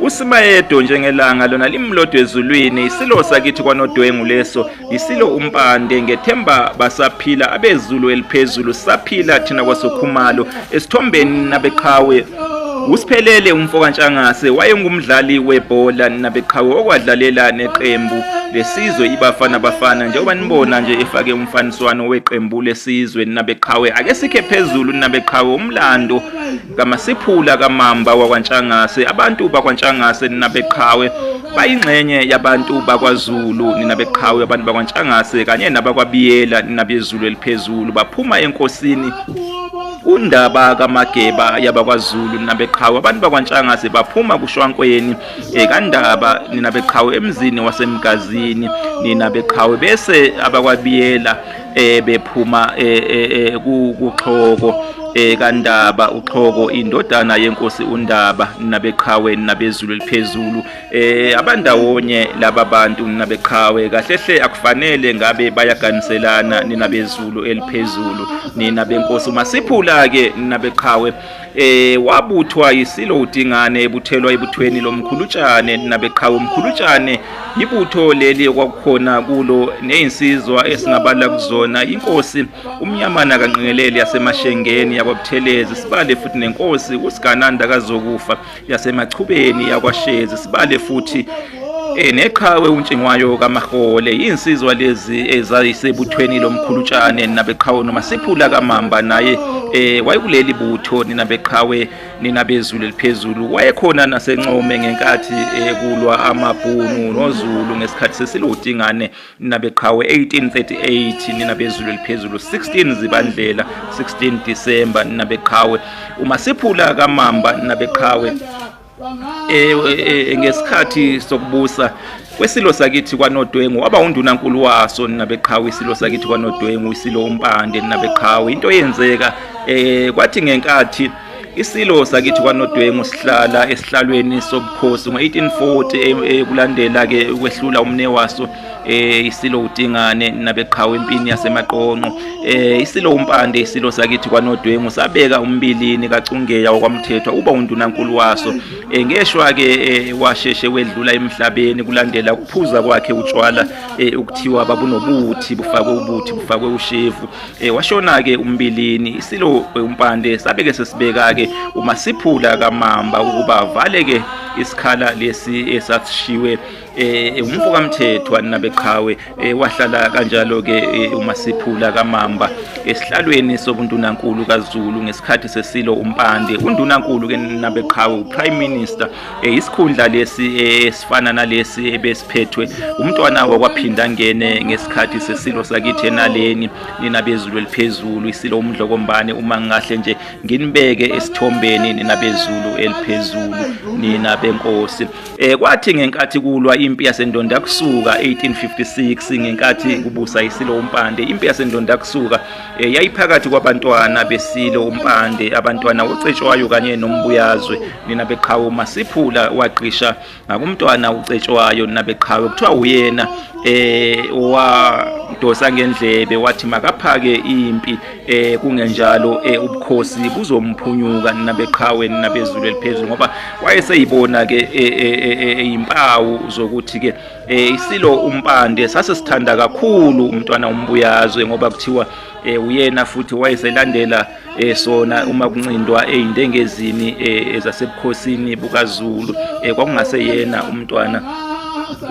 usimayedo njengelanga lona limlodo ezulwini isilo sakithi kwanodwengu leso yisilo umpande ngethemba basaphila abezulu eliphezulu saphila thina kwasokhumalo esithombeni nabeqhawe usiphelele umfokantshangase wayengumdlali webhola nabeqhawe okwadlalela neqembu lesizwe ibafana bafana njengoba nibona nje efake umfaniswano weqembu lesizwe nabeqhawe ake sikhe phezulu nabeqhawe umlando Kamasiphula kamamba wakwaNtshangase abantu bakwaNtshangase ninabeqhawe bayingxenye yabantu bakwaZulu ninabeqhawe abantu bakwaNtshangase kanye nabakwabiyela ninabezulu eliphezulu baphuma enkosini undaba kamageba yabakwaZulu ninabeqhawe abantu bakwaNtshangase baphuma kushwankweni ekandaba eh, ninabeqhawe emzini wasemgazini ninabeqhawe bese abakwabiyela eh bephuma eh, eh, eh kuxhoko eh kaNdaba uxhoko indodana yenkosi uNdaba nabeqhawe nabezulu eliphezulu eh abandawonye laba bantu nabeqhawe kahle hle akufanele ngabe bayaganiselana ninabezulu eliphezulu nina benkosi uma siphula ke nabeqhawe Eh wabuthwa yisilo uDingane ebuthelwa ibuthweni lomkhulutshane nabeqhawe umkhulutshane ibutho leli okwakukhona kulo nezinsizwa esingabala kuzona inkosi umnyamana kanqingeleli yasemashengeni yakwabuthelezi sibale futhi nenkosi usigananda kazokufa yasemachubeni yakwashezi sibale futhi eh, neqhawe untshingwayo kamahole yinsizwa lezi ezayisebuthweni lomkhulutshane nabeqhawe noma siphula kamamba naye eh wayekuleli butho nina beqhawe nina bezulu eliphezulu wayekhona nasencome ngenkathi ekulwa eh, amabhunu nozulu ngesikhathi sesilodingane nina beqhawe 1838 nina bezulu eliphezulu 16 zibandlela 16 December nina beqhawe uma siphula kamamba nina beqhawe eh, eh, eh ngesikhathi sokubusa kwesilo sakithi kwanodwengu waba undunankulu waso nina beqhawe isilo sakithi kwanodwengu isilo umpande nina beqhawe into yenzeka eh kwathi ngenkathi Isilo sakithi kwaNodwengu sihlala esihlalweni sobukhosi ngo-1840 eh, kulandela ke ukwehlula umne waso eh isilo uDingane nabeqhawe empini yasemaqonqo eh isilo uMpande isilo sakithi kwaNodwengu sabeka umbilini kaCungeya wakwamthethwa uba undunankulu waso eh ngeshwa ke eh, washeshe wedlula emhlabeni kulandela ukuphuza kwakhe utshwala eh, ukuthiwa babunobuthi bufakwe ubuthi bufakwe ushevu E, washona-ke umbilini isilo umpande sabe-ke sesibeka-ke umasiphula kamamba ukuba avale-ke isikhala lesi esasishiwe eh, eh umfo kaMthethwa nabeqhawe eh, wahlala kanjalo ke eh, uMasiphula kaMamba esihlalweni sobundunankulu kaZulu ngesikhathi sesilo uMpande undunankulu ke nabeqhawe uPrime Minister Eh, isikhundla lesi eh, esifana nalesi ebesiphethwe umntwana wakwaphinda ngene ngesikhathi sesilo sakithi enaleni nina bezulu eliphezulu isilo umdlokombane uma ngingahle nje nginibeke esithombeni nina bezulu eliphezulu nina benkosi eh kwathi ngenkathi kulwa impi yasendonda kusuka 1856 ngenkathi kubusa isilo umpande impi yasendonda kusuka Eh, yayiphakathi kwabantwana besilo umpande abantwana ucetshwayo kanye nombuyazwe nina beqhawe masiphula waqisha ngakumntwana ucetshwayo nina beqhawe kuthiwa uyena eh wadosa ngendlebe wathi makaphake impi eh kungenjalo eh, ubukhosi buzomphunyuka nina beqhawe nina bezulu eliphezulu ngoba wayeseyibona ke eh, eh, impawu zokuthi ke eh isilo umpande sase sithanda kakhulu umntwana umbuyazwe ngoba kuthiwa eh uyena futhi wayeselandela eh sona uma kuncindwa eindengezini eh ezasebukhosini bukaZulu eh kwakungase yena umntwana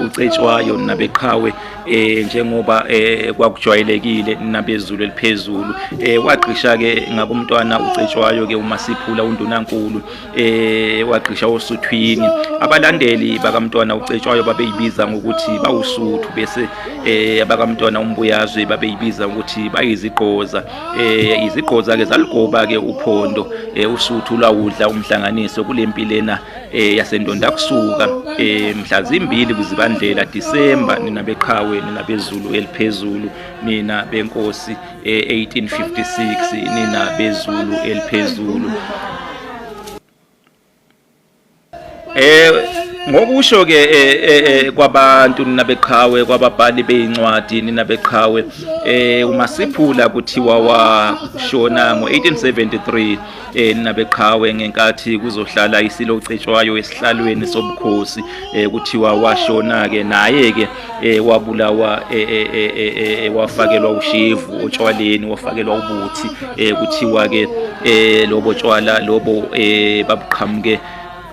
ucetshwayo nabeqhawe eh njengoba eh kwakujwayelekile nabezulu eliphezulu eh wagqisha ke ngakumntwana ucetshwayo ke uma siphula undunankulu eh wagqisha osuthwini abalandeli bakamntwana ucetshwayo babeyibiza ngokuthi bawusuthu bese eh abakamntwana umbuyazwe babeyibiza ukuthi bayizigqoza eh izigqoza ke zaligoba ke uphondo eh usuthu lawudla umhlanganiso kulempilena eh yasendonda kusuka eh mhla zimbili kuzibandlela December nina beqhawe nina bezulu eliphezulu nina benkosi e-1856 nina bezulu eliphezulu eh ngokusho ke eh, eh, eh, kwabantu nina beqhawe kwababhali bezincwadi nina beqhawe eh uma siphula kuthiwa washona ngo1873 elinabeqhawe ngenkathi kuzohlala isilo ocetshwayo esihlalweni sobukhosi eh, kuthiwa washona ke naye ke eh, wabulawa eh, wafakelwa ushevu otshwaleni wafakelwa ubuthi kuthiwa ke lobo tshwala lobo babuqhamuke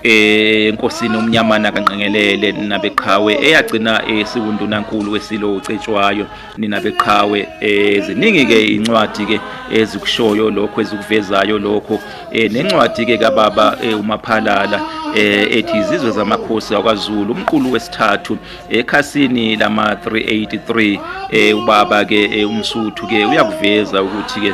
enkosini umnyamana kanqengelele nabeqhawe eyagcina esiwundunankulu wesilo ucetshwayo nina beqhawe eh, ziningi ke incwadi ke ezikushoyo lokho ezikuvezayo lokho eh, nencwadi ke kababa eh, umaphalala ethi izizwe zamakhosi akwaZulu umqulu wesithathu ekhasini lama 383 ubaba ke umsuthu ke uyakuveza ukuthi ke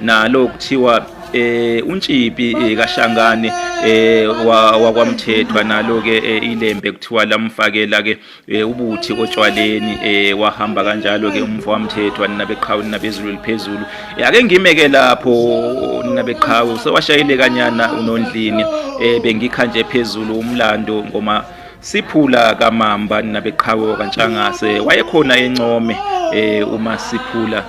nalo kuthiwa eh untshiphi eh, kashangane eh wakwamthethwa nalo ke eh, ilembe kuthiwa lamfakela ke eh, ubuthi otshwaleni eh wahamba kanjalo ke umfo wamthethwa ninabeqhawe nabezulu liphezulu eh, ake ngime ke lapho ninabeqhawe sewashayile kanyana unondlini eh bengikha nje phezulu umlando ngoma siphula kamamba ninabeqhawe kantshangase wayekhona encome eh uma siphula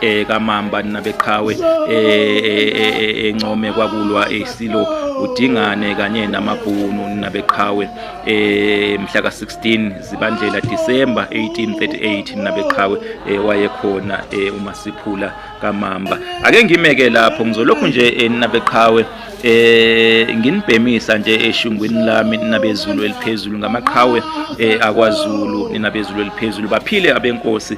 eh kamamba nabeqhawe eh encome kwakulwa isilo udingane kanye namabhunu nabeqhawe eh mhla ka 16 zibandlela December 1838 nabeqhawe wayekhona uma siphula kamamba ake ngimeke lapho ngizolokhu nje nabeqhawe eh nginibhemisa nje eshungwini lami ninabezulu eliphezulu ngamaqhawe eh akwaZulu ninabezulu eliphezulu baphile abenkosi